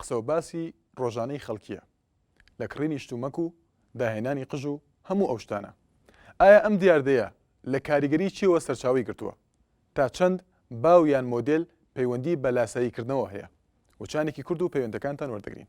قسەو باسی ڕۆژانەی خەڵکیە لە کڕینی شتومەک و داهێنانی قژ و هەموو ئەو شتانە ئایا ئەم دیاردەیە لە کاریگەری چیەوە سەرچاوەی گرتووە تا چەند باو یان مۆدێل پەیوەندی بە لاسایی کردنەوە هەیە وچانێکی کورت و پەیوەندەکانتان وەردەگرین.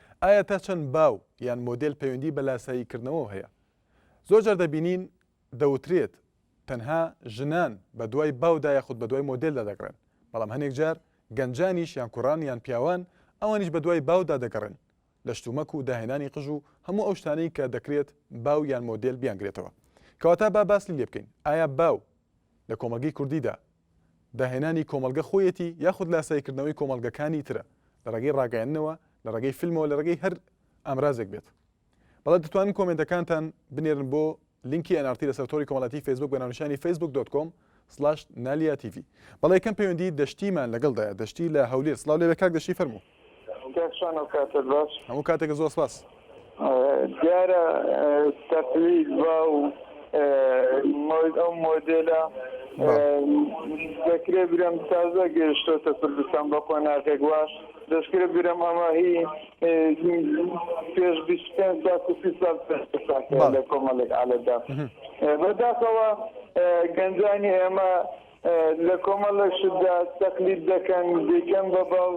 ئایا تا چەند باو یان مۆدێل پەیوەندی بە لاساییکردنەوە هەیە؟ زۆرجار دەبینین دەوترێت تەنها ژنان بەدوای باودا یاخود بەدوای مۆدێلدا دەگەڕێن، بەڵام هەنێک جار گەنجانیش یان کوڕان یان پیاوان ئەوانیش بەدوای باودا دەگەڕێن لە شتومەک و داهێنانی قژ و هەموو ئەو شتانەی کە دەکرێت باو یان مۆدێل بیانگرێتەوە. کەواتە با باسی لێبکەین ئایا باو لە کۆمەڵگەی کوردیدا داهێنانی کۆمەڵگە خۆیەتی یاخود لاسایی کردنەوەی کۆمەڵگەکانی ترە لە ڕێگەی ڕاگەیاندنەوە، لە ڕێگەی فیلمەوە لە ڕێگەی هەر ئامرازێک بێت. بەڵێ دەتوانن کۆمێنتەکانتان بنێرن بۆ لینکی nrt لەسەر تۆڕی کۆمەڵایەتی فەیسبووک بە ناونیشانی فەیسبووک دۆت کۆم سڵاش نالیا تیڤی. بەڵێ یەکەم پەیوەندی دەشتیمان لەگەڵدایە دەشتی لە هەولێر سڵاو لێبێ کاک دەشتی فەرموو. کاک شانۆ کاتت باش هەموو کاتێک زۆر سپاس. دیارە تەقلید با و ئەو مۆدێلە دەکرێت برم تازە گەیشتۆتە کوردستان بە قۆناغێک وا دەستکرێ برم ئەمە هی پێش لە کۆمەڵێک عالەدا بەداخەوە گەنجانی ئێمە لە کۆمەڵە شتدا تەقلید دەکەن دەیکەن بە باو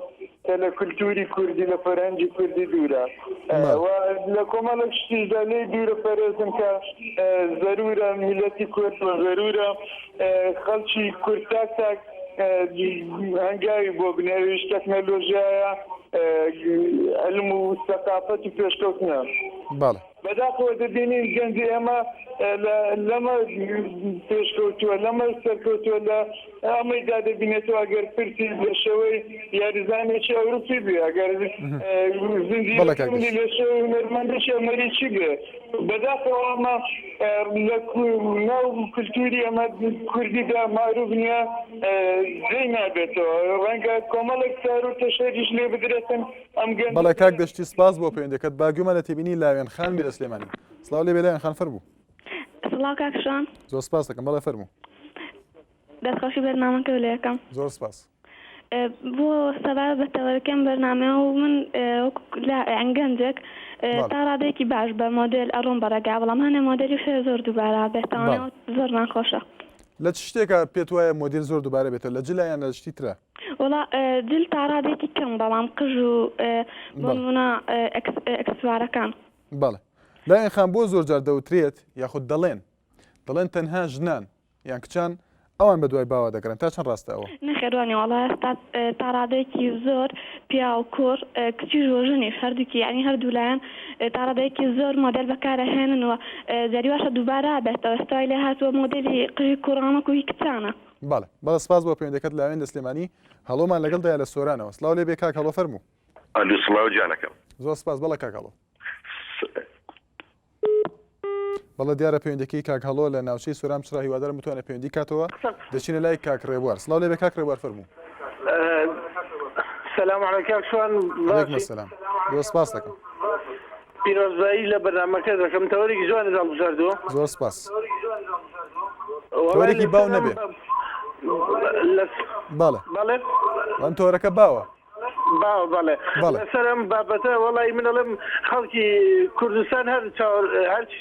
کە لە کولتووری کوردی لە فەرهەنگی کوردی دوورە و لە کۆمەڵە شتیشدا لێی دوورە پەرێزن کە زەرورە میلەتی کورد و زەرورە خەڵکی کورد تاک تاک هەنگاوی بۆ بنێویش تەکنەلۆژیایە علم و سەقافەت و پێشکەوتنە بەڵێ بەداخەوە دەبینین گەنجی ئێمە لەمە پێشکەوتووە، لەمە سەرکەوتووە، لە ئەمەیدا دەبینێتەوە ئەگەر پرسی لە شێوەی یاریزانێکی ئەوروپی بێ، ئەگەر زنجیرەکانی لە شێوەی هونەرمەندێکی ئەمەریکی بێ. بەداخەوە ئەمە لە ناو کولتووری ئێمە کوردیدا مەعروف نییە، جێی نابێتەوە. ڕەنگە کۆمەڵێک تار و تەشەریش لێ بدرێتن. بەڵێ کاک دەشتی سپاس بۆ پەیوەندەکەت باگوێمە لە تێبینی لاوێن خان لە سلێمانی سلااو لێ بێلاوێن خان فەرموو سڵاو کاکشان زۆر سپاس دەکەم بەڵێ فەرموو دەستخۆشی بەرنامەکە لە یەکەم زۆر سپاس بۆ سەبار بە تەوەرەکەم بەرنامە و من ئەنگەنجێک تا ڕادێکی باش بە مۆدل ئەڕۆم بەڕێگا بەڵام هەنێ مۆدلی شێ زۆر دووبارە بێتەوە زۆر ناخۆشە لە چ شتێکە پێت وایە مۆدیل زۆر دووبارە بێتە لە جلایان لە شتی ترە وەڵا جل تا ڕادێکی کەم بەڵام قژ و بۆنمونە ئەکسسوارەکان بەڵێ لایەن خان بۆ زۆر جار دەوترێت یاخود دەڵێن دەڵێن تەنها ژنان یان کچان ئەوان بە دوای باوە دەگەرن تا چەند ڕاستە ئەوە نەخێرانی وڵا تا ڕادێکی زۆر پیا و کۆر کچی ژۆژنی هەردووکی ینی هەردوو لایەن تا ڕادێکی زۆر مۆدل بەکارە هێننەوە جاری باشە دووبارە بێتەوە ستای لێ هاتووە مۆدلی قژی کوڕانەکوی کچانە بەڵێ بەڵێ سپاس بۆ پەیوەندەکەت لاوێن لە سلێمانی هەڵۆمان لەگەڵدایە لە سۆرانەوە سڵاو لێبێ کاک هەڵۆ فەرموو. ئەلو سڵاو گیانەکەم. زۆر سپاس بەڵێ کاک هەڵۆ. بەڵە دیارە پەیوەندەکەی کاک هەڵۆ لە ناوچەی سۆران پچڕا هیوادارم بتوانێت پەیوەندی کاتەوە دەچینە لای کاک ڕێبوار سڵاو لێ بێ کاک ڕێبوار فەرموو سلام علیکم شوان علیکم السلام بۆ سپاس دەکەم پیرۆزبایی لە بەرنامەکەت دەکەم تەوەرێکی جوانت هەڵبژاردووە. زۆر سپاس. وەڵای تۆرێکی باو لەسەر ئەم نەبێ. لەس بەڵێ. بەڵێ؟ ئەم تۆرەکە باوە. باوە بەڵێ. بەڵێ. لەسەر ئەم بابەتە وەڵای من ئەڵێم خەڵکی کوردستان هەر چاوەر هەرچی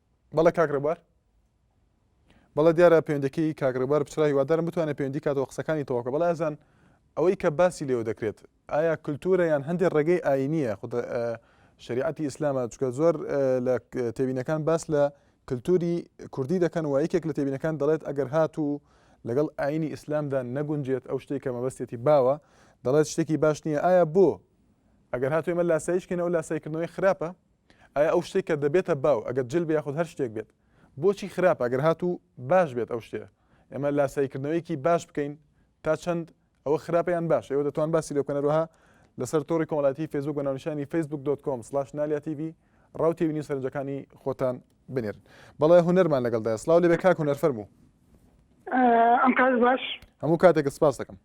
بەڵێ کاک ڕێبوار. بەڵێ دیارە پەیوەندەکەی کاک ڕێبوار پچڕا هیوادارم بتوانێت پەیوەندی کاتەوە قسەکانی تەواو بکە بەڵێ ئازان ئەوەی کە باسی لێوە دەکرێت ئایا کللتورە یان هەندێک ڕێگەی ئاینیە خود شریعەتی ئیسلامە چکە زۆر لە تێبینەکان باس لە کللتوری کوردی دەکەن و یەکێک لە تێبینەکان دەڵێت ئەگەر هات و لەگەڵ ئاینی ئیسلامدا نەگونجێت ئەو شتێک کە مەبەستێتی باوە دەڵێت شتێکی باش نییە ئایا بۆ ئەگەر هاتوێمە لاسایشکەن ئەو لاسایکردنەوەی خراپە ئایا ئەو شتەی کە دەبێتە باو ئەگەر جل بێ یاخود هەر شتێک بێت بۆچی خراپە ئەگەر هاتوو باش بێت ئەو شتەیە ئێمە لاساییکردنەوەیەکی باش بکەین تا چەند ئەوە خراپە یان باشە ئێوە دەتوان باسی لێ بکەن هەروەها لەسەر تۆڕی کۆمەڵایەتی فەیسبووک بە ناونیشانی فەیسبووک دۆت کۆم سڵاش نالیا تی ڤی ڕاو تێبینی و سەرنجەکانی خۆتان بنێرن بەڵێ هونەرمان لەگەڵدایە سڵاو لێ بێ کاک هونەر فەرموو ئەم کات باش هەموو کاتێکت سپاس دەکەم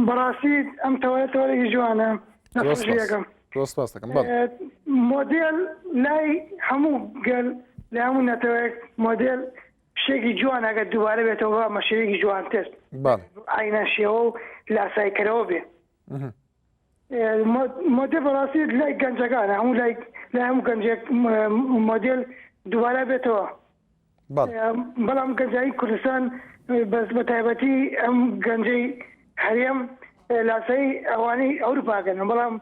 بەڕاستی ئەم تەوەە تۆرەی جوانە نەخۆشیەکەم دۆستپاستەکەم مۆدێل لای هەموو گەل لە هەموو نەتەوەێک مۆدێل شتێکی جوان ئەگەر دووبارە بێتەوە مەشەیەکی جوانتر ئاینا شێوە و لاسایکەرەوە بێ مۆدێل بەڕاستی لای گەنجەکانە هەموو لای لای هەموو گەنجێک مۆدێل دووبارە بێتەوە بەڵام گەنجایی کوردستان بەس بە تایبەتی ئەم گەنجەی هەرێم لاسای ئەوانەی ئەوروپاگەن بەڵام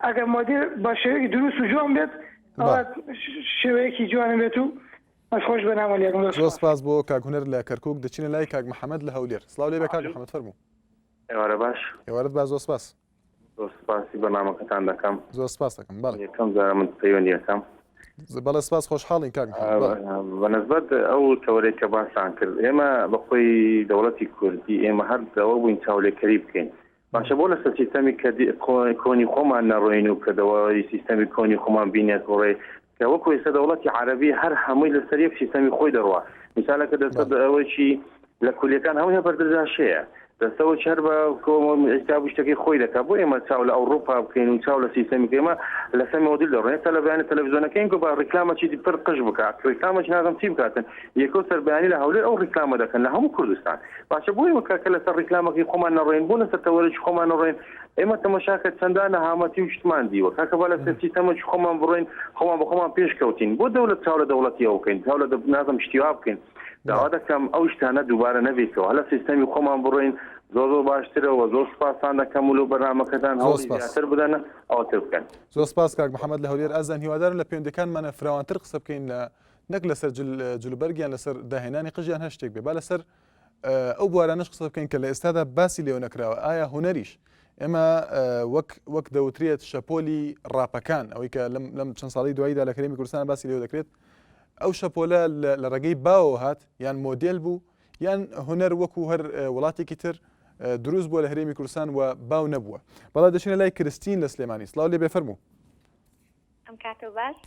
ئەگەر مۆدێل بە شێوەیەکی دروست و جوان بێت شێوەیەکی جوانە بێت و خۆش بەنامە لێ سپاس بۆ کاگونەر لە کەرکک دەچینە لای کاک محەممەد لە هەولێر سلااو لێ بە کاک محەممەد فەرموو ئێوارە باش. ئێوارەت باش زۆر سپاس. زۆر سپاسی بەرنامەکەتان دەکەم. زۆر سپاست دەکەم بەڵێ. یەکەم جارە من پەیوەندی ئەکەم. بەڵێ سپاس خۆشحاڵین کاک محمد بەڵێ. بەنسبەت ئەو تەوەرەی کە باستان کرد ئێمە بەخۆی دەوڵەتی کوردی ئێمە هەر لەوە بووین چاولێکەری بکەین باشە بۆ لەسەر سیستەمی کە کۆنی خۆمان نەڕۆین و کە دەوای سیستەمی کۆنی خۆمان بینێک وڕێ کە وەکو ئێستا دەوڵەتی عەرەبی هەر هەمووی لەسەر یەک سیستەمی خۆی دەڕوا میسالەکە دەستە ئەوەیی لە کولیەکان هەمووی هە بەردەجاشەیە دەستەوە چەر بە ئیستا شتەکەی خۆی دەکات بۆ ئێمە چاو لە ئەوروپا بکەین و چاو لە سیستەمی کێمە لە سەمی مۆدیل دەڕێن تا لە بەیانی تەلەڤزیۆنەکەین گو بە ڕیکلامەکی پر قش بکات ڕیکلامەکی نازم چی بکاتن یەکۆ سەربیانی لە هەولێر ئەو ڕیکلامە دەکەن لە هەموو کوردستان باشە بۆی وەکە کە لەسەر ڕیکلامەکەی خۆمان نەڕێن بۆ لەسەر تەوەرەی خۆمان نەڕێن ئێمە تەمەشاکە چەندان نەهامەتی و شتمان دیوە کاکە با لە سەرچی تەمەش خۆمان بڕۆین خۆمان بە خۆمان پێش کەوتین بۆ دەولە چاو لە دەوڵەتی ئەو بکەین چاو لە نازم شتیوا بکەین داوا دەکەم ئەو شتانە دووبارە نەبێتەوە هەلە سیستەمی خۆمان بڕۆین زۆر زۆر باشترەوە زۆر سپاسان دەکەم و لەو بەرنمەکەتان هەڵسپاسر بدەن ئەوتر بکەن زۆر سپاس کاک محەممەد لە هەولێر ئازان هیوادارن لە پێندەکانمانە فراوانتر قسە بکەین لە نەک لەسەر جلوبەرگیان لەسەر داهێنانی قژیان هەشتێک بێ با لەسەر ئەو بوارانەش قسە بکەین کە لە ئێستادا باسی لێو نەکراوە ئایا هوەریش ئێمە وەک وەک دەوترێت شەپۆلی ڕاپەکان ئەوەی کە لەم چەند ساڵی دواییدا لە کەرێمی کوردستان باسی لێو دەکرێت ئەو شەپۆلە لە ڕێگەی باوە هات یان مۆدل بوو یان هوەر وەکو هەر وڵاتێکی تر دروست بووە لە هەرێمی کوردستان و باو نەبووە بەڵا دەچینە لای کرستین لە سلێمانی سلااو لێ بێفەرموو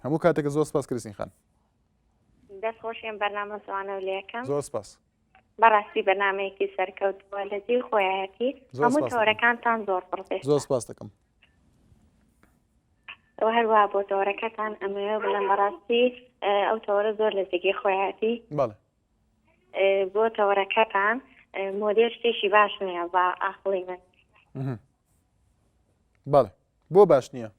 هەموو کاتێک زۆر سپاس کرسین خان دەست خۆش ئێم بەرنامە جوانە و لەیەکەم. زۆر سپاس. بەڕاستی بەرنامەیەکی سەرکەوتووە لە جێی خۆیەتی هەموو تۆرەکانتان زۆر پڕێ زۆر سپاس دەکەم ئەو هەروە بۆ تۆرەکەتان ئەمەوێ بڵێن بەڕاستی ئەو تۆرە زۆر لە جێگەی خۆیەتی بۆ تۆرەکەتان مۆدێر شتێکی باش نییە بە ئاخڵی من بەڵێ بۆ باش نییە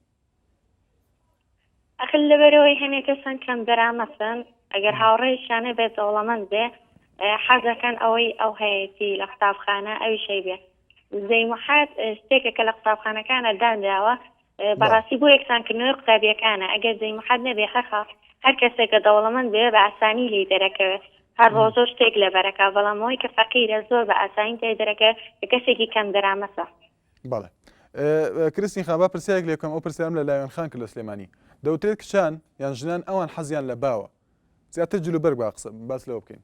ئەخل لەبەرەوەی هەنێ کەسن کەم دەرامەسن ئەگەر هاوڕێشانە بێت دەوڵەمەند بێ حەزەکەن ئەوەی ئەو هەیەتی لە قوتابخانە ئەوی شەی بێ زەی محات شتێکە کە لە قوتابخانەکانە دانراوە بەڕاستی بۆ یەکسانکردنەوەی قوتابیەکانە ئەگەر زەی محات نەبێ هەخە هەر کەسێکە دەوڵەمەند بێ بە ئاسانی لی دەرەکەوێت هەر ڕۆژە شتێک لەبەر ئەکا بەڵام ئەوەی کە فەقیرە زۆر بە ئاسانی تێدەرەکە کە کەسێکی کەم دەرامەتە. بەڵێ کرستین خان با پرسیارێک لێ بکەم ئەو پرسیارم لە لاوێن خان کرد لە سلێمانی دەوترێت کچان یان ژنان ئەوان حەزیان لە باوە زیاتر جلوبەرگ با قسە باس لەوە بکەین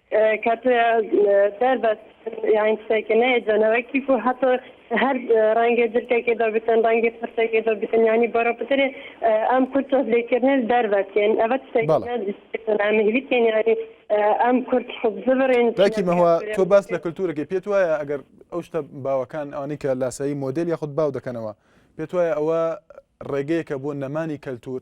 کاتێ دەر بەس یاین قسەکە نەیە جەنەوەکی و هەتۆ هەر ڕەنگە جرکەکە دەبتن ڕەنگی قسەکە دەبتن ینی بەرە پترێ ئەم کورد تۆز لێکردن دەربەتێن ئەوە مهلی تێنیاری ئەم کورد خب زبرێن باکی مەوە تۆ باس لە کللتورەکە پێت وایە ئەگەر ئەو شتە باوەکان ئەوانی کە لاسایی مۆدل یاخود باو دەکەنەوە پێت وایە ئەوە ڕێگەیەکە بۆ نەمانی کەلتور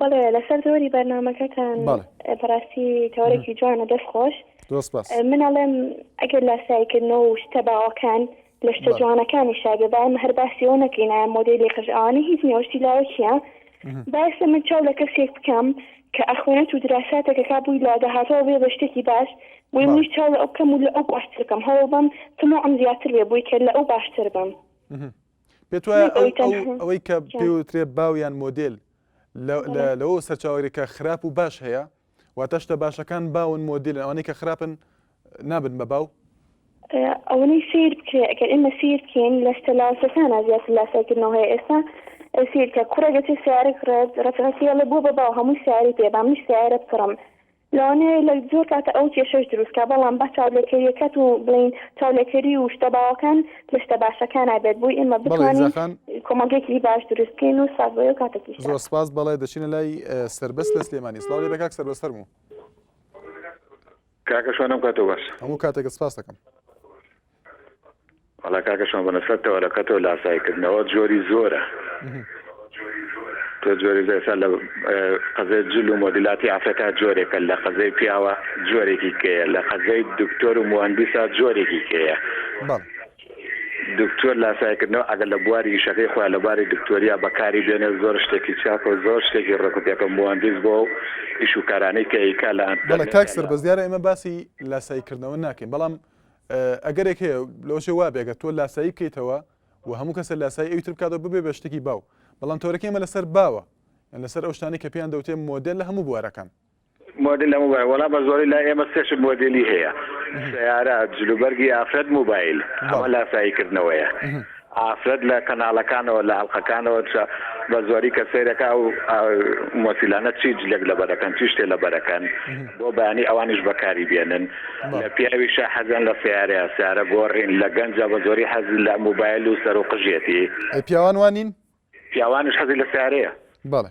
بەڵێ لەسەر تەوەری بەرنمەکەتان بەڕاستی تەوەرەێکی جوانە دەست خۆش من ئەڵێم ئەگەر لاسایکردنەوە و شتە باوەکان لە شتە جوانەکانی شاگە با ئەم هەر باسیەوە نەکەینە مۆدیلی قژانی هیچ نێوەشتی لاوەکیە باسە من چاو لە کەسێک بکەم کە ئەخوێنێت و دراساتێکە کا بووی لا دەهاتەوە بێ بە شتێکی باش بۆی منیش چاو لە ئەو بکەم و لە ئەو باشترکەم هەوڵ بم تمۆ ئەم زیاتر بێ بووی کە لە ئەو باشتر بم پێت وایە ئەو ئەوەی کە پێوترێ باویان مۆدل لەوە سەرچاوەرێکە خراپ و باش هەیە واتە شتە باشەکان باون مۆدیل ئەوانەی کە خراپن نابن بە باو ئەوەی سیر بکرێ ئەگەر ئێمە سیر بکەین لە شتە لاوسەکانە زیات لاساکردنەوە هەیە ئێستا سیرکە کوڕێگەتی سیارێک ڕێت ڕفرەتی ئەڵێ بۆ بە باو هەموو سیاری پێ بامنی سیارە بکڕم لەوانەیە لە زۆر کاتە ئەو کێشەش دروست کا بەڵام با چاولێکەریەکەت و بڵێین چاولێکەری و شتە باوەکان لە شتە باشەکانا بێت بۆی ئێمە بەڵێ بتوانین ئیمزا خان. کۆمەڵگەیەکی باش دروست کەین و سوپاس بۆ ئێو کاتەکیش زۆر تان. سوپاس بەڵێ دەچینە لای سەربەست لە سلێمانی سڵاو لێبێ کاک سەربەست فەرموو. کاکە شۆنم کاتۆ باش. هەموو کاتێکت سپاس دەکەم. وەڵا کاکە شۆن بەنە سەر تەوەرەکە تۆ لاسایی کردنەوە جۆری زۆرە تۆ جۆری زێسا لە قەزێ جل و مۆدیلاتی ئافرەتا جۆرێکە لە قەزەی پیاوە جۆرێکی کەیە لە قەزەی دکتۆر و مهندسا جۆرێکی کەیە دکتۆر لاسایکردنەوە ئەگەر لە بواری ئیشەکەی خۆیان لە باری دکتۆریا بەکاری بێنێ زۆر شتێکی چاکە و زۆر شتێکی ڕکوپێکە مهندس بۆ و ئیش و کارانەی کە ئیکا لە ئەنتەڵ کاک سەر بەزیارە ئێمە باسی لاسایکردنەوە ناکەین بەڵام ئەگەرێک هەیە لەوەشێ وابێ گەر تۆ لاسایی بکەیتەوە و هەموو کەسە لاسایی ئەوی تر بکاتەوە ببێ بە شتێکی باو بەڵام تەورەکە ئێمە لەسەر باوە یان لەسەر ئەو شتانەی کە پێیان دەوتێ مۆدێل لە هەموو بوارەکان مۆدل هەموو بوار وەڵا بە زۆری لای ئێمە سێ شت مۆدێلی هەیە سیارە جلوبەرگی ئافرەت موبایل ئەمە لاسایی کردنەوەیە ئافرەت لە کەناڵەکانەوە لە ئەڵقەکانەوە چ بە زۆری کە سەیرەکە ئەو مۆسیلانە چی جلێک لەبەرەکەن چی شتێ لەبەرەکەن بۆ بەیانی ئەوانیش بەکاری بێنن لە پیاویشە حەزیان لە سیارەیە سیارە گۆڕین لە گەنجە بە زۆری حەز لە موبایل و سەر و قژێتی ئەی پیاوان وانین؟ پیاوانیش حەزی لە سیارەیە بەڵێ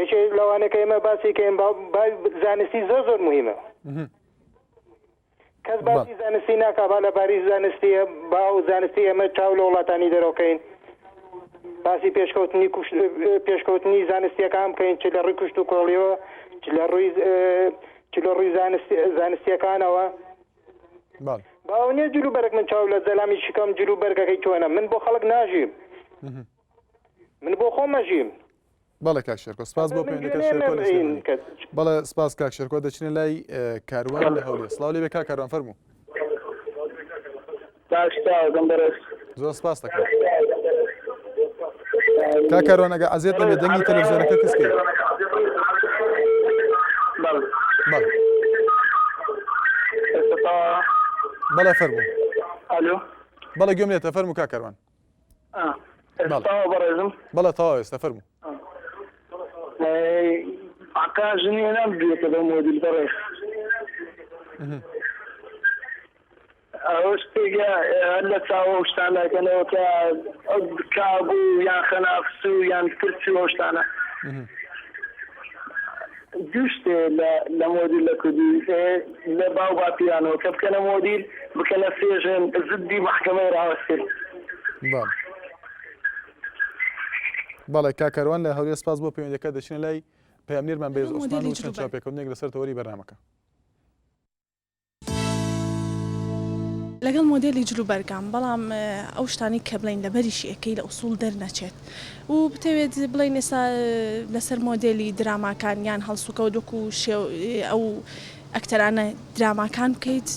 یەکێک لەوانە کە ئێمە باسی کەین با با زانستی زۆر زۆر مهمە کەس بەڵ باسی زانستی ناکا با لە باری زانستیە با و زانستی ئێمە چاو لە وڵاتانی دەرەوەکەین باسی پێشکەوتنی کوشت پێشکەوتنی زانستیەکان بکەین چ لە ڕووی کوشت و کۆڵیەوە چ لە ڕووی چ لە ڕووی زانستی زانستیەکانەوە باڵ باو نیە جلو بەرگ من چاو لە زەلامی شکم جلو بەرگەکەی چۆنە من بۆ خەڵک ناژیم من بۆ خۆمەژیم بەڵێ کاک شێرکۆ سپاس بۆ پەیوەندیەکە شێرکۆ لە سلێمانی بەڵێ سپاس کاک شێرکۆ دەچینە لای کاروان لە هەولێر سڵاو لێ بێ کاک کاروان فەرموو زۆر سپاس دەکەم کاک کاروان ئەگە عەزێت نەبێت دەنگی تەلەڤزیۆنەکە کەس کرد بەڵێ فەرموو بەڵێ گوێم لێتە فەرموو کاک کاروان بەڵێ تەواو ئێستا فەرموو عقا ژنی نام بێتە بە مۆدیل بەڕێ ئەوە شتێکە هەر لە چاوە شتان ناکەنەوە کە ئەو کابوو یان خەنافس و یان کرچ و شتانە دوو شتێ لە مۆدیل لە کوردی ئێ لە باو باپیرانەوە کە بکەنە مۆدیل بکەنە سێژن زدی مەحکەمەی ڕاوەستن. بەڵێ بەڵێ کاک کاروان لە هەولێر سپاس بۆ پەیوەندیەکە دەچینە لای پەیامنێرمان بەێز عوسمان و چەند چاپێکەوتنێک لەسەر تەوەری بەرنامەکە. لەگەڵ مۆدێلی جل و بەرگام بەڵام ئەو شتانی کە بڵین لەبەریشی ئەەکەی لە ئوسول دەرنەچێت و بتەوێت بڵین ئێستا لەسەر مۆدێلی دراماکان یان هەڵسوکەوت وەکو شێو ئەو ئەکتەرانە دراماکان بکەیت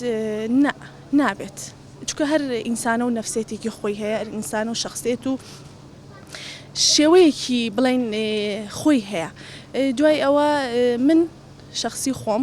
نە نابێت چکە هەر ئینسانە و نەفسێتێکی خۆی هەیە ئینسان و شخصێت و شێوەیەکی بڵین خۆی هەیە دوای ئەوە من شخصی خۆم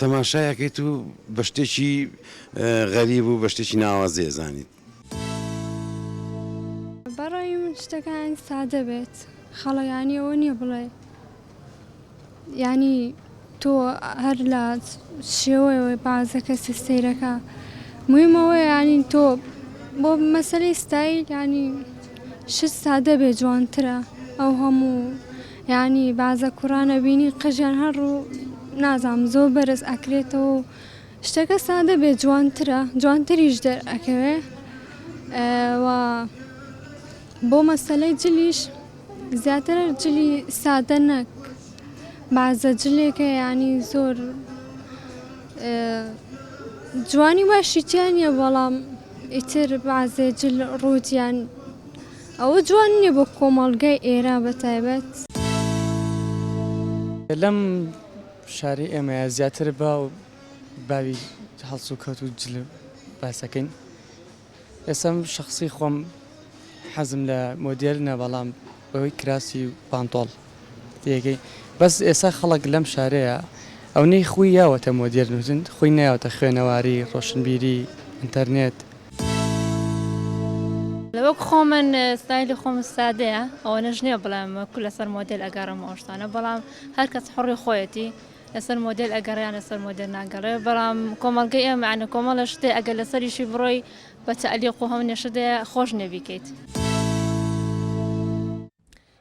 تەماشای ئەکەیت و بە شتێکی غەریب و بە شتێکی ناوازەی ئەزانیت. بەڕای من شتەکان یانی سادە بێت خەڵە یانی ئەوە نییە بڵێ یانی تۆ هەر لە شێوەوەی بازە کەسی سەیرەکە مویمەوە یانی تۆ بۆ مەسەری ستایل یانی شت سادە بێ جوانترە ئەو هەموو یانی بازە کوڕان ئەبینی قژیان هەر ڕوو نازانم زۆر بەرز ئەکرێتەوە و شتەکە سادە بێ جوانترە جوانتریش دەرئەکەوێ بۆ مەسەلەی جلیش زیاتر جلی سادە نەک بازە جلێکە ینی زۆر جوانی باشیتیان نیە بەڵام ئیتر بازێ جل ڕووتیان ئەوە جوان نیە بۆ کۆمەڵگای ئێران بە تایبەت. لەم شاری ئێمەیا زیاتر باو باوی هەڵسوکەوت و جل باسەکەین ئێستا من شەخسی خۆم حەزم لە مۆدێرنە بەڵام بەوەی کراسی و پانتۆڵ. تێگەی بەس ئێسا خەڵک لەم شارەیە ئەونەی خوی یاوەتە مۆدێرن وتن خوی نەیاوەتە خوێنەواری ڕۆشنبیری ئینتەرنێت. وەک خۆمن ستایلی خۆم سادەیە ئەوەنەش نیە بڵێم کو لەسەر مۆدێل ئەگەڕم ئەو شتانە بەڵام هەرکەس حڕی خۆیەتی لەسەر مۆدێل ئەگەڕیان لەسەر مۆدێل ناگەڕێ بەڵام کۆمەڵگەی ئێمە عەنە کۆمەڵە شتێ ئەگەر لەسەریشی بڕۆی بە تەعلیق و هەم نێشدەیە خۆش نەبیکەیت.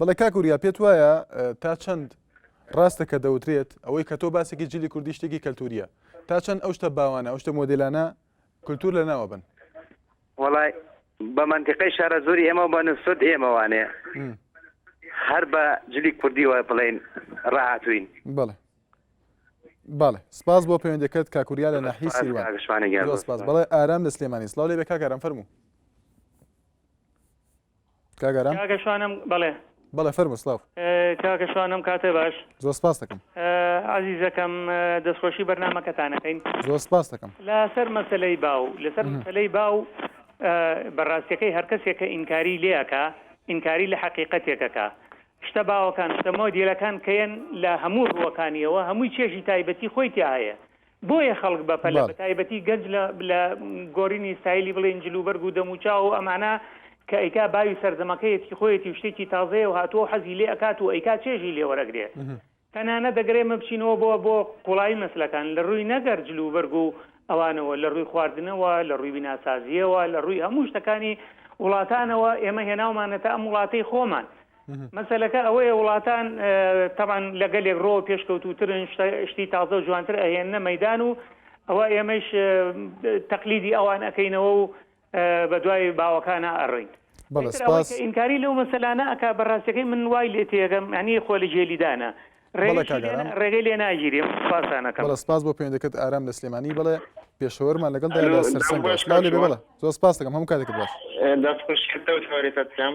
بەڵێ کاک وریا پێت وایە تا چەند ڕاستە کە دەوترێت ئەوەی کە تۆ باسێکی جلی کوردی شتێکی کەلتوریە تا چەند ئەو شتە باوانە ئەو شتە مۆدلانە کللتور لە ناوە بن وڵای بە منتیقی شارە زۆری ئێمە بە نسبت ئێمەوانێ هەر بە جلی کوردی وە بڵین ڕاهاتوین بڵێ بەڵێ سپاس بۆ پەیوەندەکەت کاکوریا لە ناحی سیروانشمانە سپاس بڵێ ئارام لە سلێمانی سلااو لێ بێ کاکارم فەرموو کاک ئارام کاکە شوانم بەڵێ بەڵێ فەرموو سڵاو کاکە شوانم کاتێ باش زۆر سپاس دەکەم ئازیزەکەم دەستخۆشی بەرنمەکەتانەکەین زۆر سپاس دەکەم لەسەر مەسلەی باو لەسەر مەسلەی باو بەڕاستەکەی هەرکەسێکە ئینکاری لێەکە ئینکاری لە حقیقەتێکەکە شتە باوەکان شتە مۆدیلەکان کەیەن لە هەموو ڕووەکانیەوە هەمووی چێژی تایبەتی خۆی تیا هەیە بۆیە خەڵک بەپەلە بە تایبەتی گەنج لە گۆرینی ستایلی بڵێن جلوبەرگ و دەموچاو و ئەمانە کە ئەیکا باوی سەرجەمەکەیەتی خۆیەتی و شتێکی تازەیە و هاتووە و حەزی لێ ئەکات و ئەیکا چێژی لێ وەرەگرێ تەنانەت دەگەر ئێمە بچینەوە بۆ بۆ قوڵایی مەسلەکان لە ڕووی نەگەر جلوبەرگ و ئەوانەوە لە ڕووی خواردنەوە لە ڕووی بیناسازییەوە لە ڕووی هەموو شتەکانی وڵاتانەوە ئێمە هێناومانەتە ئەم وڵاتەی خۆمان مەسەلەکە ئەوەیە وڵاتان تەبان لە گەلێک ڕۆ پێشکەوتوترن شتی تازە و جوانتر ئەهێنە مەدان و ئەوە ئێمەش تەقلیدی ئەوان ئەەکەینەوە و بە دوای باوەکانە ئەڕین ئینکاری لەو مەسەلانە ئەک بە ڕاستەکەی من وای لێ تێگەم ینی خۆ لە جێلیدانە ڕێگەی لێ ناگیری پاسانەکە سپاس بۆ پێندەکەت ئارام لە سلێمانی بڵێ پێشەوەرمان لەگەڵ سەرسەنگڵ زۆر سپاس دەکەم هەم کاتێک باش دەستخۆشکردەوە تاوارێتەکەم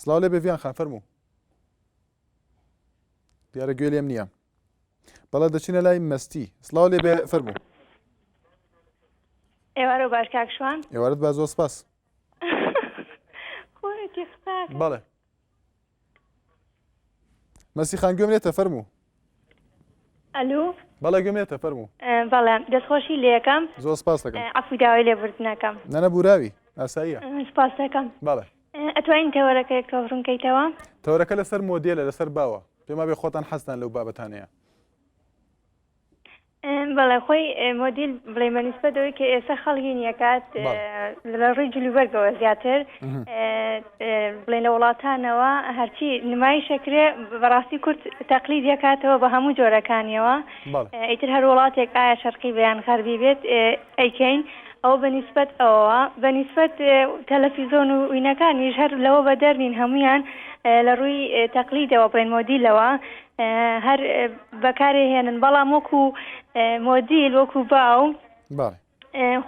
سڵاو لێبێ ڤیان خان فەرموو دیارە گوێ لێم نییە بەڵە دەچینە لای مەستی سلااو لێ بێ فەرمو ئێوارە باش کاکشوان ئێوارت با زۆر سپاس بەڵێ مەسی خان گوێم لێتە فەرموو. ئەلو بەڵێ گوێم لێتە فەرموو. بەڵێ دەستخۆشی لێکەم زۆر سپاس دەکەم عەفوی داوای لێبوردنەکەم. نەنە بوراوی ئاساییە. سپاس دەکەم بەڵێ. ئەتوانین تەوەرەکە یەک تۆخ ڕوون کەیتەوە. تەوەرەکە لەسەر مۆدێلە لەسەر باوە پێمابێ خۆتان حەزتان لەو بابەتانەیە. بەڵێ خۆی مۆدیل بڵێ بەنیسبەت دەوەی کە ئێستا خەڵکی نیەکات لە ڕووی جلوبەرگەوە زیاتر بڵێ لە وڵاتانەوە هەرچی نمایشەکرێ بەڕاستی کورد تەقلی دەکاتەوە بە هەموو جۆرەکانیەوە ئیتر هەر وڵاتێک ئایا شەرقی بەیان غەربی بێت ئەیکەین ئەو بەنیسبەت ئەوەوە بەنیسبەت تەلەفیزۆن و وینەکانیش هەر لەوە بەدەرنین هەمویان لە ڕووی تەقلیدەوە بڵێن مۆدیلەوە هەر بەکارێ هێنن بەڵام وەکو مۆدیل وەکو باو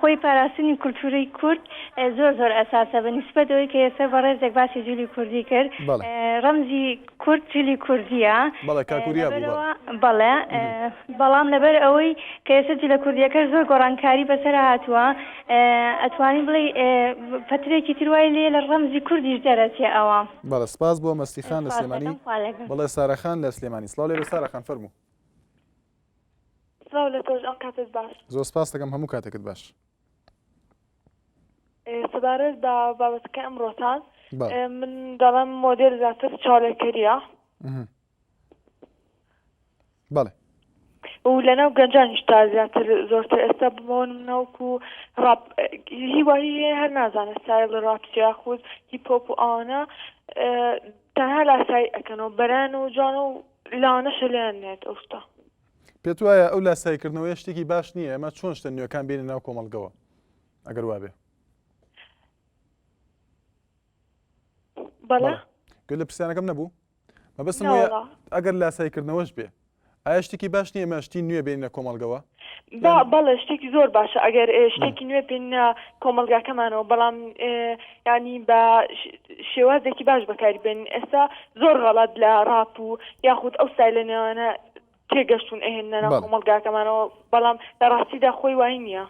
خۆی پاراستنی کولتوری کورد زۆر زۆر ئەساسە بە نیسبەت ئەوی کە ئێستا بە ڕێزێک باسی جولی کوردی کرد ڕەمزی کورد جلی کوردیە بەڵێ بەڵام لەبەر ئەوەی کە ئێستا جلە کوردیەکە زۆر گۆڕانکاری بەسەر هاتووە ئەتوانی بڵێ پەترێکی تروای لێ لە ڕەمزی کوردیش دەرەچێ ئەوە بەڵێ سپاس بۆ مەستی خان لە سلێمانی بڵێ سارا خان لە سلێمانی سڵاو لێ سارا خان فەرموو سڵاو لە تۆش ئەم کاتت باش زۆر سپاس دەکەم هەموو کاتێکت باش سەبارەت بە بابەتەکە ئەمڕۆتان من دەڵم مۆدێل زیاتر چاڵێکەریە بەڵێ. و لەناو گەنجانیش تا زیاتر زۆرتر ئێستا بمەوە ناوکو ڕاپ هی وایی هەیە هەر نازانێت سایڵ ڕاپ چ یاخود هیپ هۆپ و ئەوانە تەنها لاسایی ئەکەن و بەران و جوان و لەوانەشە لێیان نێت ئەو شتە پێت وایە ئەو لاسایکردنەوەی شتێکی باش نییە ئەمە چۆن شتە نوێەکان بێنە ناو کۆمەڵگەوە ئەگەر وابێ بەڵێ گەل لە پرسیانەکەم نەبوو مەبەستم ئەگەر لاسایی کردنەوەش بێ ئایا شتێکی باش نیە ئمە شتی نوێ بینە کۆمەڵگەوە بەڵێ شتێکی زۆر باشە ئەگەر شتێکی نوێ بینە کۆمەلگاکەمانەوە بەڵام ینی بە شێوازێکی باش بەکاری بێن ئێستا زۆر غەڵات لە ڕاپ و یاخود ئەو سای لە نێوانە تێگەشتون ئەهێننە ناو بەڵێ. کۆمەڵگاکەمانەوە بەڵام لە ڕاستیدا خۆی وای نییە.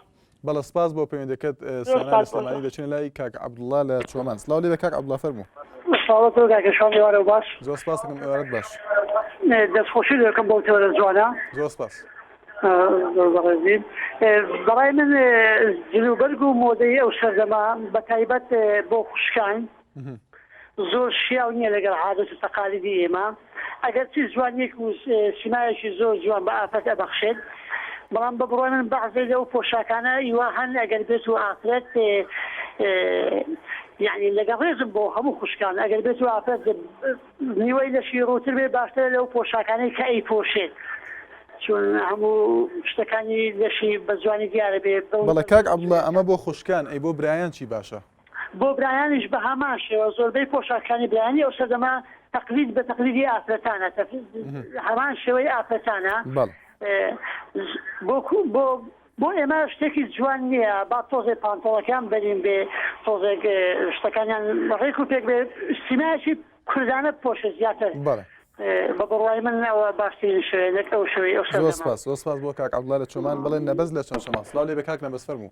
بەڵێ سپاس بۆ پەیوەندیەکەت زۆر سانا لە سپاس بۆ سلێمانی تۆش. دەچینە لای کاک عەبدوڵا لە چۆمان سڵاو لێبێ کاک عەبدوڵا فەرموو. سڵاوت لۆ کاکە شوان ئێوارەو باش. زۆر سپاست دەکەم ئێوارەت باش. دەست خۆشی لۆ ئەکەم بەو تیۆرە جوانە. زۆر سپاس. زۆر بەڕێزی. بەڕای من جلوبەرگ و مۆدەی ئەو سەردەمە بە تایبەت بۆ خوشکان. زۆر شیاو نییە لەگەڵ عادەت و تەقالیدی ئێمە، ئەگەرچی جوانییەک و سیمایەکی زۆر جوان بە ئافرەت ئەبەخشێت، بەڵام بە بڕوای من بەعزێ لەو پۆشاکانە ئیوا هەن ئەگەر بێت و ئافرەت یەعنی لەگەڵ ڕێزم بۆ هەموو خوشکان ئەگەر بێت و ئافرەت نیوەی لەشی ڕووتر بێت باشترە لەو پۆشاکانەی کە ئەیپۆشێت چون هەموو شتەکانی لەشی بە جوانی دیارە بێت بەڵێ کاک عەبدوڵڵا ئەمە بۆ خوشکان ئەی بۆ برایان چی باشە؟ بۆ برایانیش بە هەمان شێوە زۆربەی پۆشاکانی برایانی ئەو سەردەمە تەقلید بە تەقلیدی ئافرەتانە هەمان شێوەی ئافرەتانە بۆ بۆ ئێمە شتێکی جوان نییە با تۆزێ پانتۆڵەکان بەرین بێ تۆزێک شتەکانیان ڕێک و پێک بێ سیمایکی کوردانە پۆشە زیاتر بە بڕوای من ناوە باشترین شوێنێک ئەو شوێ ئەو سپاس بۆ کاک عبدڵە لە چۆمان بڵێن نەبەز لە چۆن شما سلااو لێ بە کاک نەبەس فەرموو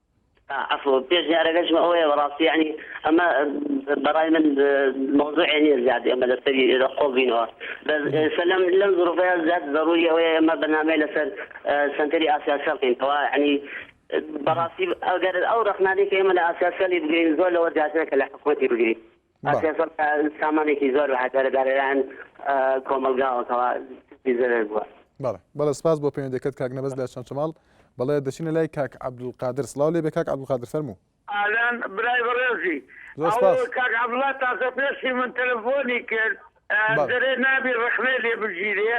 عەفو پێش دیارەگەشم ئەوەیە بەڕاستی یانی ئەمە بەڕای من مەوزوعێ نییە زیاد ئێمە لەسەری ئێرە قۆڵ بینەوە بەس ئێستا لەم لەم زرۆڤەیە زیاد زەروری ئەوەیە ئێمە بەنامەیە لەسەر سەنتەری ئاسیاسیال بکەین کەوا یعنی بەڕاستی ئەگەر ئەو ڕەخنانەی کە ئێمە لە ئاسیاسیالی بگرین زۆر لەوە زیاترە کە لە حکومەتی بگرین پێنجسەد سامانێکی زۆر بە هەدەرەدا لەلایەن کۆمەڵگاوەکەوە دەستی زەرەر بووە. بەڵێ بەڵێ سپاس بۆ پەیوەندیەکەت کاک نەبەز لە چەمچەماڵ بەڵێ دەچینە لای کاک عەبدولقادر سڵاو لێبێ کاک عەبدولقادر فەرموو. ئالان برای بەڕێزی. زۆر سپاس. ئەو کاک عەبدوڵا تازە پێشی من تەلەفۆنی کرد. دەرێ نابی ڕەخنەی لێ بگیرێ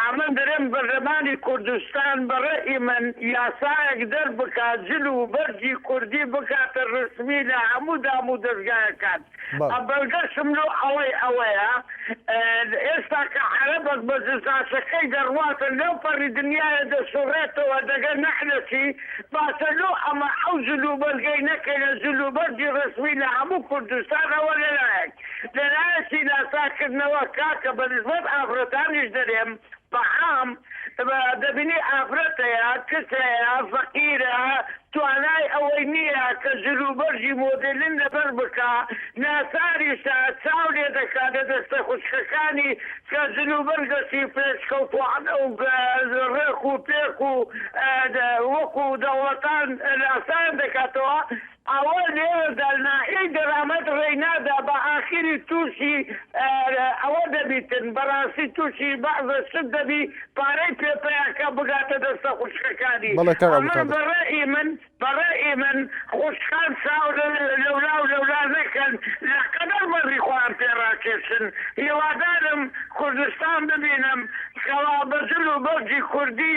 ئەمن دەرێم بەرلەمانی کوردستان بەڕەئی من یاسایەک دەربکا جل و بەرگی کوردی بکاتە ڕسمی لە هەموو دام و دەزگایەکان ئە بەلگەشم لۆ ئەوەی ئەوەیە ئێستا کە عەرەبەک بە جزاشەکەی دەڕواتە لەو پەڕی دنیایە دەسوڕێتەوە دەگە نەعلەتی باشە لۆ ئەمە ئەو جل و بەرگەی نەکەینە جل و بەرگی ڕسمی لە هەموو کوردستان ئەوە لەلایەک. لەلایەکی لاساکردنەوە کاکە بەنسبەت ئافرەتانیش دەلێم بەعام دەبینی ئافرەت هەیە کچ هەیە فەقیرە توانای ئەوەی نیە کە جلوبەرگی مۆدلن لەبەر بکا ناچاریشە چاو لێدەکا لەدەستە خوشکەکانی کە جلوبەرگەشی پێشکەوتوانە و رێک و پێک و وەکو دەوڵەتان لاسایان دەکاتەوە ئەوە لێرەدا ناحیەی دەرامەت ڕێی نادا بە ئاخیری تووشی ئەوە دەبیتن بەڕاستی تووشی بەعزە شت دەبی پارەی پێ پەیا کە بگاتە دەستە خوشکەکانی بەڵێ کاک ئەمن عەبدولقادر. بە ڕەئی من بە ڕەئی من خوشکان چاو لەولا و لەولا نەکەن لە قەدەر مەرگی خۆیان پێ ڕاکێشن هیوادارم کوردستان ببینم کەوا بە جل و بەرگی کوردی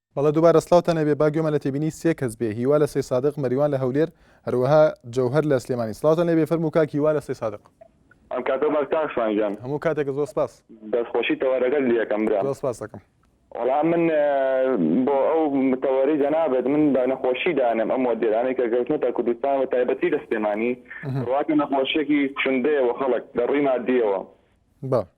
بەڵێ دووبارە سڵاوتان هەبێ با گوێمان لە تێبینی سێ کەس بێ هیوا لە سەی سادق مەریوان لە هەولێر هەروەها جەوهەر لە سلێمانی سڵاوتان لێبێ فەرموو کاک هیوا لە سەی سادق. ئەم کاتەو باش کاک شوان گیان. هەموو کاتێک زۆر سپاس. دەستخۆشی تەوەرەکەت لیەکەم برام. زۆر سپاست ئەکەم. وەڵا من بۆ ئەو تەوەرەی جەنابت من بە نەخۆشی دانم ئەم مۆدێلانەی کە کەوتنەتە کوردستان بە تایبەتی لە سلێمانی بڕواکە نەخۆشیەکی کوشندەیە بۆ خەڵک لە ڕووی مادیەوە. بەڵێ.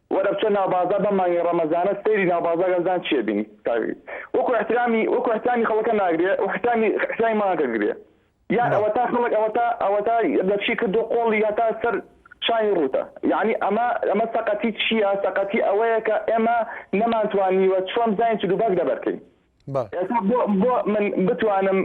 وەرە بچە ناو بازا بەم مانگی ڕەمەزانە سەیری ناو بازاکە بزان چیە بینی کاک وەکو احترامی وەکو احترامی خەڵکە ناگرێ احترامی احترامی مانگەکە گرێ یان بەڵێ ئەوەتا خەڵک ئەوەتا ئەوەتا لەچی کردوە قۆڵی هەتا سەر شانی ڕوتە یانی ئەمە ئەمە سەقەتی چیە سەقەتی ئەوەیە کە ئێمە نەمانتوانیوە چۆن بزانین چ دوو باک لەبەرکەین بە. ئێستا بۆ بۆ من بتوانم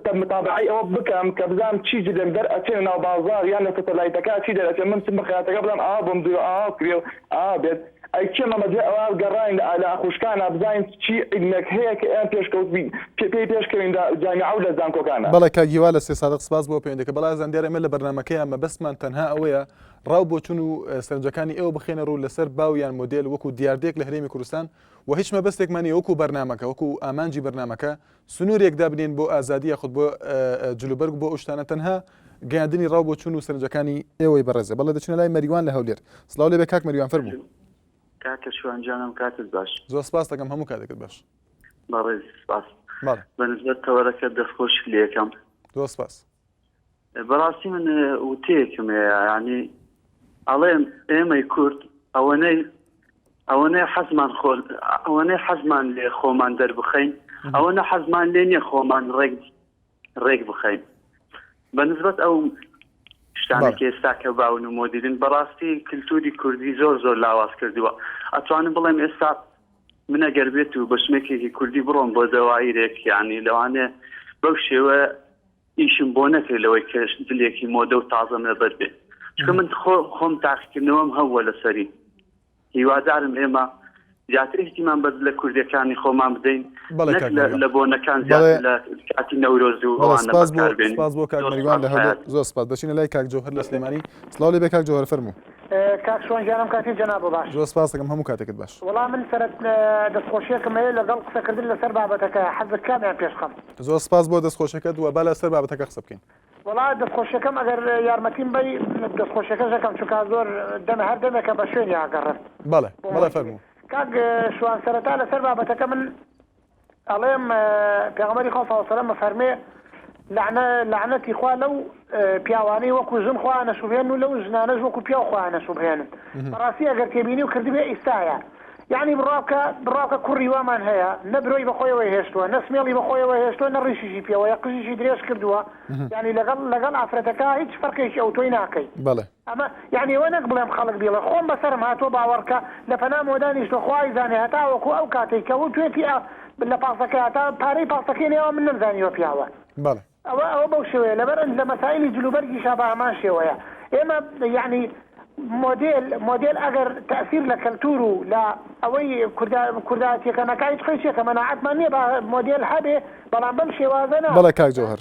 تە متابەعەی ئەوە بکەم کە بزانم چی جلێک دەر ئەچێ ناو بازاڕ یان لە سەتەلایتەکا چی دەر ئەچێ من چم بە خەیاتەکە بڵێم ئاوا بۆم دروو ئاوا بکرێ و ئاوا بێت ئەی کێ مەمە دوای ئەوە گەڕاین لە ئالە ئەخوشکانا بزانین چی عیلمێک هەیە کە ئێمە پێشکەوت بین پێ پێی پێش کەوین لە جامیعە و لە زانکۆکانا. بەڵێ کاک هیوا لە سێ سادق سپاس بۆ پەیوەندیەکە بەڵێ ئازان دیارە ئێمە لە بەرنامەکەیا مەبەستمان تەنها ئەوەیە ڕاو بۆچون و سەرنجەکانی ئێوە بخەینە ڕوو لەسەر باو یان مۆدێل وەکو دیاردەیەک لە هەرێمی کوردستان و هیچ مەبەستێکمان نیە وەکو بەرنامەکە وەکو ئامانجی بەرنامەکە سنورێک دابنێین بۆ ئازادی یاخود بۆ جلوبەرگ بۆ ئەوشتانە تەنها گەیاندنی ڕاو بۆ چون و سەرنجەکانی ئێوەی بەڕێزە بەڵێ دەچنە لای مەریوان لە هەولێر سڵاو لێبێ کاک مەریوان فەرموو کاکە شوان جانم کاتت باش زۆر سپاس دەکەم هەموو کاتێکت باش بەڕێز سپاس بەنسبەت تەوەرەکە دەستخۆش لێکەم زۆر سپاس بەڕاستی من وتەیەکم هەیە ینی ئەڵێن ئێمەی کورد ئەوەنەی ئەوەنەی حەزمان خۆل ئەوەنەی حەزمان لێ خۆمان دەربخەین ئەوەنە حەزمان لێ نیە خۆمان ڕێک ڕێک بخەین بە نسبت ئەو شتانێک ئێستا کە باون و مۆدیرن بەڕاستی کللتوری کوردی زۆر زۆر لاواز کردووە ئەتوانم بڵێم ئێستا منە گەر بێت و بەشمێکێکی کوردی بڕۆم بۆ دەوایرێک یعنی لەوانێ بەو شێوە ئیشم بۆ نەکرد لەوەی کە جلێکی مۆدە و تازەم لەبەر بێ چکە من خۆم تاقیکردنەوەم هەووە لەسەری هیوادارم ئێمە زیاتر احتیمان بە لە کوردەکانی خۆمان بدەین لە بۆنەکان کاتی نەورۆز و ئەوانەکار بێن زۆر سپاس بۆ کاک مەریوان لە هەولێر زۆر سپاس دەچینە لای کاک جەوهەر لە سلێمانی سڵاو لێ بێ کاک جەوهەر فەرموو کاک شوان گیان ئەم کاتی جەناب بۆ باش. زۆر سپاست دەکەم هەموو کاتێکت باش. وەڵا من سەرەت دەستخۆشیەکم هەیە لەگەڵ قسەکردن لەسەر بابەتەکە حەزت کامیان پێش خەم. زۆر سپاس بۆ دەستخۆشیەکەت وە با لەسەر بابەتەکە قسە بکەین. وەڵا دەستخۆشیەکەم ئەگەر یارمەتیم بەی دەستخۆشیەکەش ئەکەم چونکا زۆر دەمێ هەر دەمێکە بە شوێنی ئاگەڕێم. بەڵێ بەڵێ فەرموو. کاک شوان سەرەتا لەسەر بابەتەکە من ئەڵێم پێغەمبەری خوا صلی اللە علیە وسلم ئەفەرموێ، لەعنە، لەعنەتی خوا لەو پیاوانەی وەکو ژن خۆیان ئەشوبهێنن و لەو ژنانەش وەکو پیاو خۆیان ئەشوبهێنن، بەڕاستی ئەگەر تێبینی و کردبێ ئیستایە. یەعنی بڕوابکە، بڕوابکە کوڕی وامان هەیە، نە برۆی بەخۆیەوە هێشتووە، نە سمێڵی بەخۆیەوە هێشتووە، نە ڕیشیشی پێوەیە، قژیشی درێژ کردووە، یەعنی لەگەڵ، لەگەڵ ئافرەتەکە هیچ فەرقێکی ئەوتۆی ناکەی. بەڵێ. ئەمە یانی ئەوە نەک بڵێم خەڵک بیڵێ خۆم بەسەرم هاتوە باوەڕکە لە پەنا مۆ دانیشتوە خوا ئەیزانێ هەتاوەکو ئەو کاتەی کە و توێتی ئا بت لە پاستەکەی هاتا پارەی پاستەکەی لێوا من نەمزانیوە پیاوە بەڵێ. ئەوە ئەوە بەو شێوەیە لەبەر ئەنج لە مەسایلی جل و بەرگیشا بە هەمان شێوەیە ئێمە یانی مۆدێل مۆدێل ئەگەر تەئسیر لە کەلتور و لە ئەوەی کوردا کوردایەتیەکە نەکا هیچ قەیچێکە مەناعەتمان نیە با مۆدێل هەبێ بەڵام بەم شێوازە نا. بەڵێ کاک جەوهەر.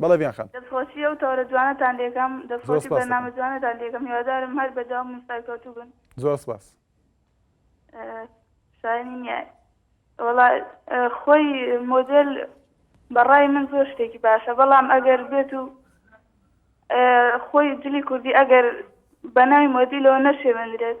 بەڵێ بیان خان. دەستخۆشی ئەو تۆرە جوانەتان لێکەم. زۆر دەستخۆشی سوپاس بەرنامە دەکەم. جوانەتان لێکەم هیوادارم هەر بەردەوام بن سەرکەوتوو بن. زۆر سوپاس. شایەنی نیە وەڵا خۆی مۆدێل بە ڕای من زۆر شتێکی باشە بەڵام ئەگەر بێت و خۆی جلی کوردی ئەگەر بە ناوی مۆدیلەوە نەشێوێنرێت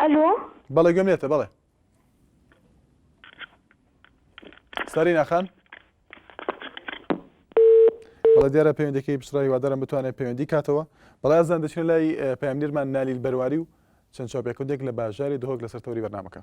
ئەلۆ بەڵێ گوێم لێتە بەڵێ سەرینا خان بەڵێ دیارە پەیوەندەکەی پچڕای وادارم بتوانێت پەیوەندی کاتەوە بەڵێ ئەزان دەچێت لای پەیامنیرمان نالیل بەرواری و چەند چاپێکودێک لە باژاری دهۆک لەسەر تەوری بەرنمەکە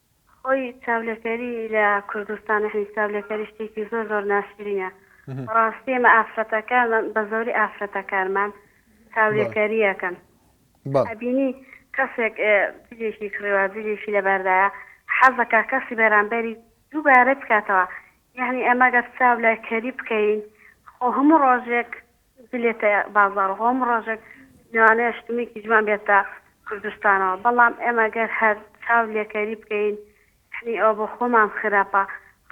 خۆی چاولێکەری لە کوردستان یەعنی چاولێکەری شتێکی زۆر زۆر ناشرینە بەڕاستی ئێمە ئافرەتەکانمان بە زۆری ئافرەتەکانمان چاولێکەریەکەن ئەبینی کەسێک جلێکی کڕیوە جلێکی لەبەردایە حەزەکە کەسی بەرامبەری دووبارە بکاتەوە یعنی ئەمە گەر چاو لای کەری بکەین خۆ هەموو ڕۆژێک بلێتە بازاڕ و هەموو ڕۆژێک لەوانەیە شتومەکی جوان بێتە کوردستانەوە، بەڵام ئێمە گەر هەر چاو لێکەری بکەین یەعنی ئەوە بۆ خۆمان خراپە،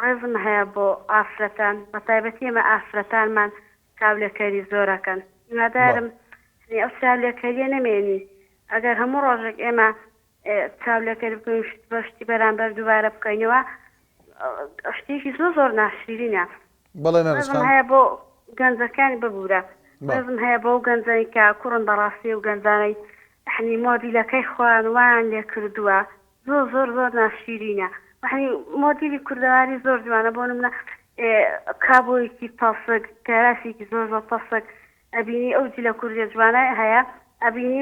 ڕێزم هەیە بۆ ئافرەتان بە تایبەتی ئێمە ئافرەتانمان چاو لێکەری زۆر ئەکەن، هیوادارم یەعنی ئەو چاو لێکەرییە نەمێنی، ئەگەر هەموو ڕۆژێک ئێمە چاو لێکەری بکەین و شت بە شتی بەرامبەر دووبارە بکەینەوە شتێکی زۆر زۆر ناشرینە، بەڵێ نەرنج خان. ڕێزم هەیە بۆ گەنجەکانی ببورە ڕێزم هەیە بۆ ئەو گەنجەی کە کوڕن بەڕاستی ئەو گەنجانەی حەنی مۆدیلەکەی خۆیان وایان لێ کردووە زۆر زۆر زۆر ناشیرینە وەحەنی مۆدیلی کوردەواری زۆر جوانە بۆ نمونە ئێ کابۆیەکی تەسک کەراسێکی زۆر زۆر تەسک ئەبینی ئەو جلە کوردە جوانە هەیە ئەبینی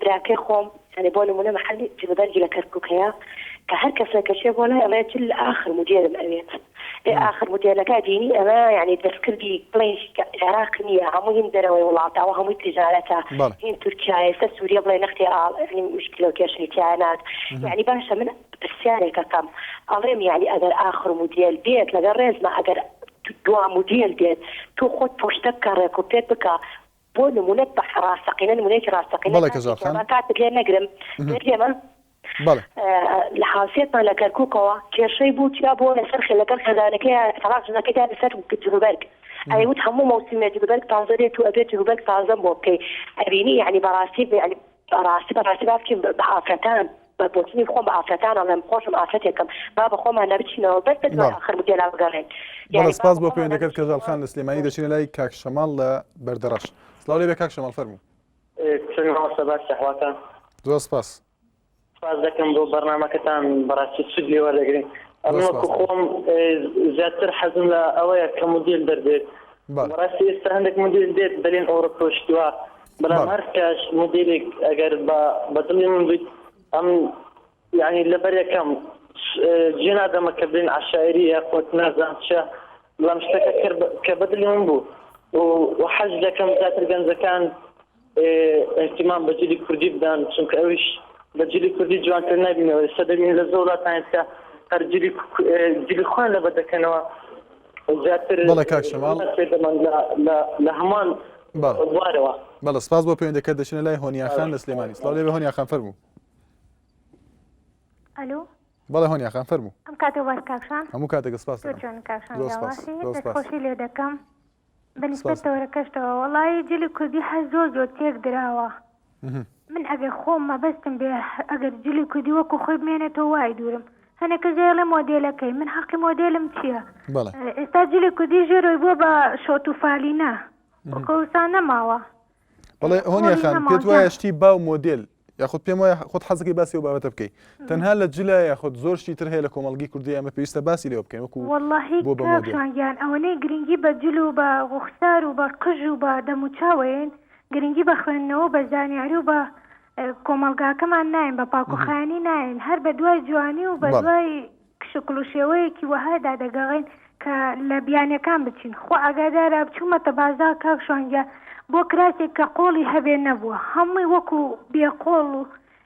براکەی خۆم یانی بۆ نمونە محلی جلوبەرگی لە کەرکوک هەیە کە هەر کەسێک کە چێ بۆ لای ئەڵێ جل ئاخر مودێرم ئەوێت ئێ ئاخر مودێرنەکە بینی ئەمە یانی دەستکردی بڵێ عێراق نییە هەموو هین دەرەوەی وڵاتە ئەوە هەمووی تیجارەتە هین تورکیایە ئێستا سوریە بڵێ نەختی ئاڵ یانی موشکیلە و کێشەی تیا نات یانی باشە من پرسیارێک ئەکەم ئەڵێم یانی ئەگەر ئاخر مودێر بێت لەگەڵ ڕێزما ئەگەر دوا مودێر بێت تۆ خۆت پوشتە بکە ڕێک و پێک بکە بۆ نمونە بە ڕاستەقینە نمونەیەکی ڕاستەقینە بەڵێ کەزاڵ خان. بەڕێزان کاتت لێ نەگرم لێت لێمە بەڵێ. لە هاوسێتمان لە کەرکوکەوە کێشەی بوو چیا بۆ لەسەر خێ لەگەڵ خێزانەکەی تەڵاق ژنەکەی دایە سەر جلوبەرگ ئەی وت هەموو مەوسیمێ جلوبەرگ تازە دێت و ئەبێ جلوبەرگ تازەم بۆ بکەی ئەبینی یەعنی بەڕاستی یەعنی بەڕاستی بەڕاستی با بکەین بە ئافرەتان. بە بۆچونی خۆم بە ئافرەتان ئەڵێم خۆشم ئافرەتێکم با بە خۆمانە بچینەوە بەس بە دوای ئاخر مدێلا بگەڕێین بەڵێ سپاس بۆ پەیوەندەکەت کەژاڵ خان لە سلێمانی دەچینە لای کاک شەماڵ لە بەردەڕەش سڵاو لێبێ کاک شەماڵ فەرموو چۆنی مامۆستا باش دەهواتان زۆر سپاس سپاس دەکەم بۆ بەرنمەکەتان بەڕاستی سود لێوە دەگرین ئەمەکو خۆم زیاتر حەزم لە ئەوەیە کە مدیل دەردێت بەڕاستی ئێستا هەندێک مدیل دێت بەلێن ئەوڕۆپۆشتووە برام بەڵێ هەر کەش مودیلێک ئەگەر بە بە دڵی من بیت ئەم یعنی لەبەر یەکەم س- اه، جێ نادەمە کە بلین عەشایری یا قوت نازان چە بەڵام شتەکە کە بە- کە بە دڵی من بوو و و حەز دەکەم زیاتر گەنجەکان اه، اهتمام بە جلی کوردی بدەن چونکە ئەویش بە جلی کوردی جوانتر نابینەوە ئێستا دەبین لە زۆر وڵاتان کە هەر جلی ک- اه، جلی خۆیان لەبەر دەکەنەوە بەڵێ کاک شەماڵ لە هەمان بوارەوە بەڵە سپاس بۆ پەیوەندەکە دەچنە لای هۆنیاخان لە سلێمانی سڵاو لێ هۆنیاخان فەرموو ئەلو بەڵێ هۆنیا خان فەرموو ئەم کاتێ باش کاکشان هەموو کاتێکە سپاس خۆشی لێ دەکەم بەنیسبەتەوەرەکەشتەوە وڵی جلی کوردی هەر زۆر زۆر تێک دراوە من ئەگەر خۆم مەبەستم بێ ئەگەر جلی کوردی وەکو خۆی بمێنێتەوە وای دوورم هەنێکە جێڵێ مۆدێلەکەی من حەقی مۆدێلم چییە ئێستا جلی کوردی ژێرۆی بووە بە شۆت و فالینە وکەوسان نەماوە بڵێ هۆنیە خان پێت وایە شتی با و مۆدل یاخود پێم وایە خۆت حەزەکەی باسی و بابەتە بکەیت تەنها لە جلە یاخود زۆر شتی تر هەیە لە کۆمەلگی کوردی ئەمە پێویستە باسی لێ بکەین وەکو بۆبیان ئەوەنەی گرنگی بە جل و بە ڕوخسار و بە قژ و بە دەموچاوەیەن گرنگی بە خوێندنەوە و بە زانیاری و بە کۆمەڵگاکەمان ناین بە پاکوخانی ناین هەر بە دوای جوانی و بە دوای شکل و شێوەیەکی وەهادا دەگەڕین کە لە بیانەکان بچین خۆ ئاگادارە بچوومەتە بازار کاک شوانگیا بۆ کراسێک کە قۆڵی هەبێ نەبووە هەمووی وەکو بێقۆڵ و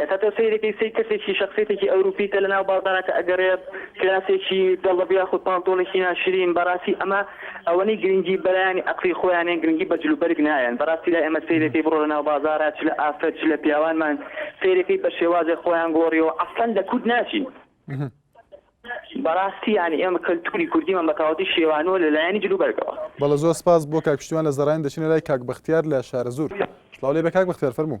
ئێستا تۆ سەیرێ کەی سەی کەسێکی شەخسێتێکی ئەوروپی کە لە ناو بازارەکە ئەگەرێ کراسێکی دەڵە بیاخود پاڵتۆنێکی ناشرین بەڕاستی ئەمە ئەوەنەی گرنگی بەلایانی ئەقڵی خۆیانێن گرنگی بە جلو بەرگ نایەن بەڕاستی لای ئێمە سەیرێکەی بڕۆ لە ناو بازارە چ لە ئافرەت چ لە پیاوانمان سەیرێکەی بە شێوازێ خۆیان گۆڕیەوە ئەسڵەن لە کورد ناچین بەڕاستی یانی ئێمە کەلتوری کوردیمان بە تەواوەتی شێوانەوە لە لایەنی جلو بەرگەوە بەڵێ زۆر سپاس بۆ کاک پشتیوان لە زەڕاین دەچینە لای کاک بەختیار لە شارەزوور سڵاو لێبێ کاک بەختیار فەرموو.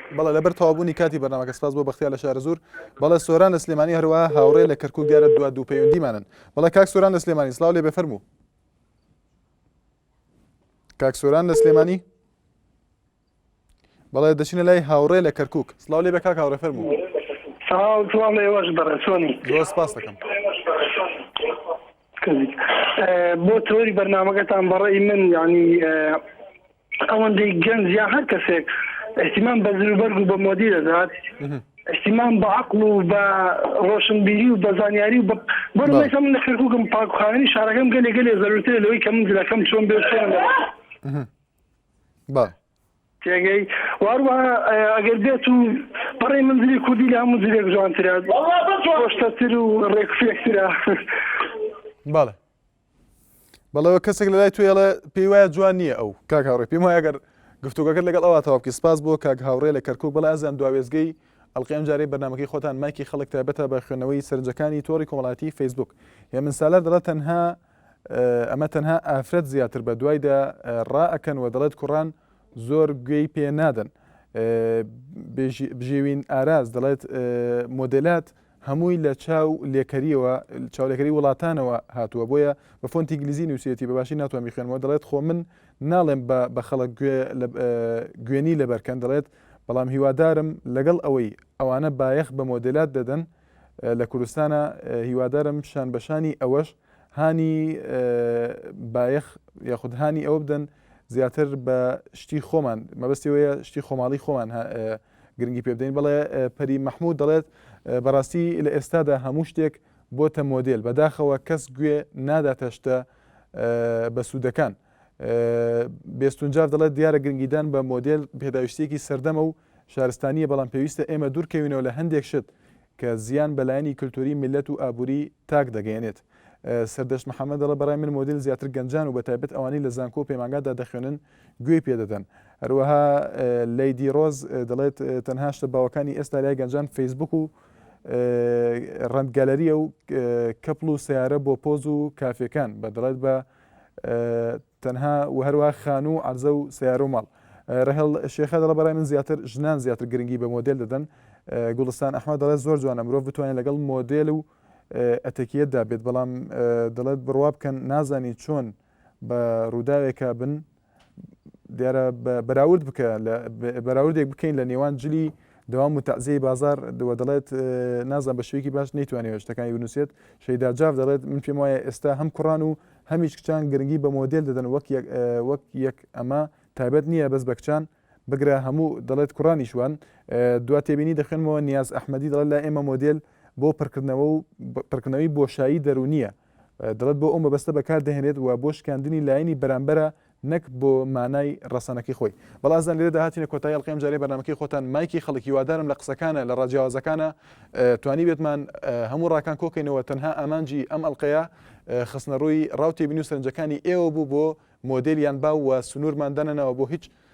بەڵێ لەبەر تەواوبوونی کاتی بەرنامەکە سپاس بۆ بەختیار لە شارەزوور بەڵێ سۆران لە سلێمانی هەروەها هاوڕێ لە کەرکوک دیارە دوا دوو پەیوەندیمانن بەڵێ کاک سۆران لە سلێمانی سلااو لێ بفەرموو کاک سۆران لە سلێمانی بەڵێ دەچینە لای هاوڕێ لە کەرکک سلااو لێ بە کاک هاوڕێ فەرموو ساڵ لێوەش بەڕێ سۆنی زۆر سپاس دەکەم کردیت بۆ تۆری بەرنامەکەتان بەڕێی من یعنی ئەوەندەی گەنج یا هەر کەسێک احتیمان بە زروبەرگ و بە مۆدی دەدات احتیمان بە عقل و بە ڕۆشنبیری و بە زانیاری و بەڕێسا من لە کرکوکم پاکخاوێنی شارەکەم گەلێ گەلێ زەرورترە لەوەی کە من جلەکەم چۆن بێ بە تێگەی وار وە ئەگەر بێت و بەڕێ من زلی کوردی لە هەموو زلێک جوانترە خۆشتەتر و ڕێکفێکترە بەڵێ بەڵەوە کەسێک لە لای توێ ئەڵێ پێی وایە جوان نییە ئەو کاک هاوڕێ پێم وایە گەر گفتوگەکرد لەگەڵ ئەوە تاواکی سپاس بۆ کاک هاوڕێ لە کەرکک بەڵ ئازیان دواێزگەی ئەلقیم جارەی بەنامەکەی خۆتان مایکی خەڵک تابەتە بە خوێنەوەی سەرنجەکانی تۆری کۆمەڵاتی فەیسبوک هێ من سالار دەڵە تەنها ئەمە تەنها ئافرەت زیاتر بە دوایدا ڕا ئەکەن و دەڵێت کوڕان زۆر گوێی پێ نادەن بژێوین ئاراز دەڵێت مۆدلات هەمووی لە چاو لێکەریەوە چاولێکەری وڵاتانەوە هاتووە بۆیە بە فۆنتی گلیزی نووسێتی بەباشی ناتوان میخێنەوە دەڵێت خۆ من ناڵێم بە خەڵک گوێنی لەبەرکەن دەڵێت بەڵام هیوادارم لەگەڵ ئەوەی ئەوانە بایەخ بە مۆدلات دەدەن لە کوردستانە هیوادارم پیشان بەشانی ئەوەش هانی بایەخ یاخود هانی ئەوە بدەن زیاتر بە شتی خۆمان مەبەستەوەیە شتی خۆماڵی خۆمان گرنگی پێ بدەین بەڵێ پەری مححمود دەڵێت بەڕاستی لە ئێستادا هەموو شتێک بۆتە مۆدل بەداخەوە کەس گوێ ناداتە شتە بە سوودەکان بێستونجار دەڵێت دیارە گرنگیدان بە مۆدل پێداویستێکی سەردەمە و شارستانییە بەڵام پێویستە ئێمە دوورکەوینەوە لە هەندێک شت کە زیان بە لایەنی کلتووری میللەت و ئابووری تاک دەگەیەنێت. سەردەشت محەمەد دەڵێت، بەڕای من مۆدێل زیاتر گەنجان و بەتایبەت ئەوانەی لە زانکۆ و پەیمانگادا دەخوێنن گوێی پێ دەدەن. هەروەها لەیدی ڕۆز دەڵێت، تەنها شتە باوەکانی ئێستا لای گەنجان فەیسبووک و ڕەنت گەلەرییە و کەپڵ و سەیارە بۆ پۆز و کافێکان. بە دەڵێت بە تەنها و هەروا خانو و عەرزە و سەیارە و ماڵ. رهێڵ شێخە دەڵێ بەڕای من زیاتر ژنان زیاتر گرنگی بە مۆدێل دەدەن. گوڵستان ئەحمەد دەڵێت زۆر جوانە مرۆڤ بتوانێت لەگەڵ مۆدێل و ئەتەکیەتدا بێت بەڵام دەڵێت بڕوا بکەن نازانی چۆن بە رووداوێکا بن دیارە بەراورد بکە بەراوردێک بکەین لە نێوان جلی دەوام و تەعزیەی بازار دووە دەڵێت نازان بە شوێکی باش نەیتوانێت شتەکانی بنووسێت شەیدا جاف دەڵێت من پێم وایە ئێستا هەم کوڕان و هەمیش کچان گرنگی بە مۆدێل دەدەن وەک یەک وەک یەک ئەمە تایبەت نییە بەس بە کچان بگرە هەموو دەڵێت کوڕانیش وان دوا تێبینی دەخوێنمەوە نیاز ئەحمەدی دەڵێت لای ئێمە مۆدێل بۆ پڕکردنەوە و پڕکردنەوەی بۆشایی دەرونیە دەڵێت بۆ ئەو مەبەستە بەکار دەهێنێت و بۆ شکاندنی لایەنی بەرامبەرە نەک بۆ مانای ڕەسەنەکەی خۆی. بەڵا ئەزان لێرەدا هاتینە کۆتایی ئەڵقەی ئەمجارەی بەرنامەکەی خۆتان مایکی خەڵک هیوادارم لە قسەکانە لە ڕاجیاوازەکانە توانیبێتمان هەموو ڕاکان کۆکەینەوە تەنها ئامانجی ئەم ئەڵقەیە خستنەڕووی ڕاو تێبینی و سەرنجەکانی ئێوە بوو بۆ مۆدێل یان باو و سنوورمان دانەناوە بۆ هیچ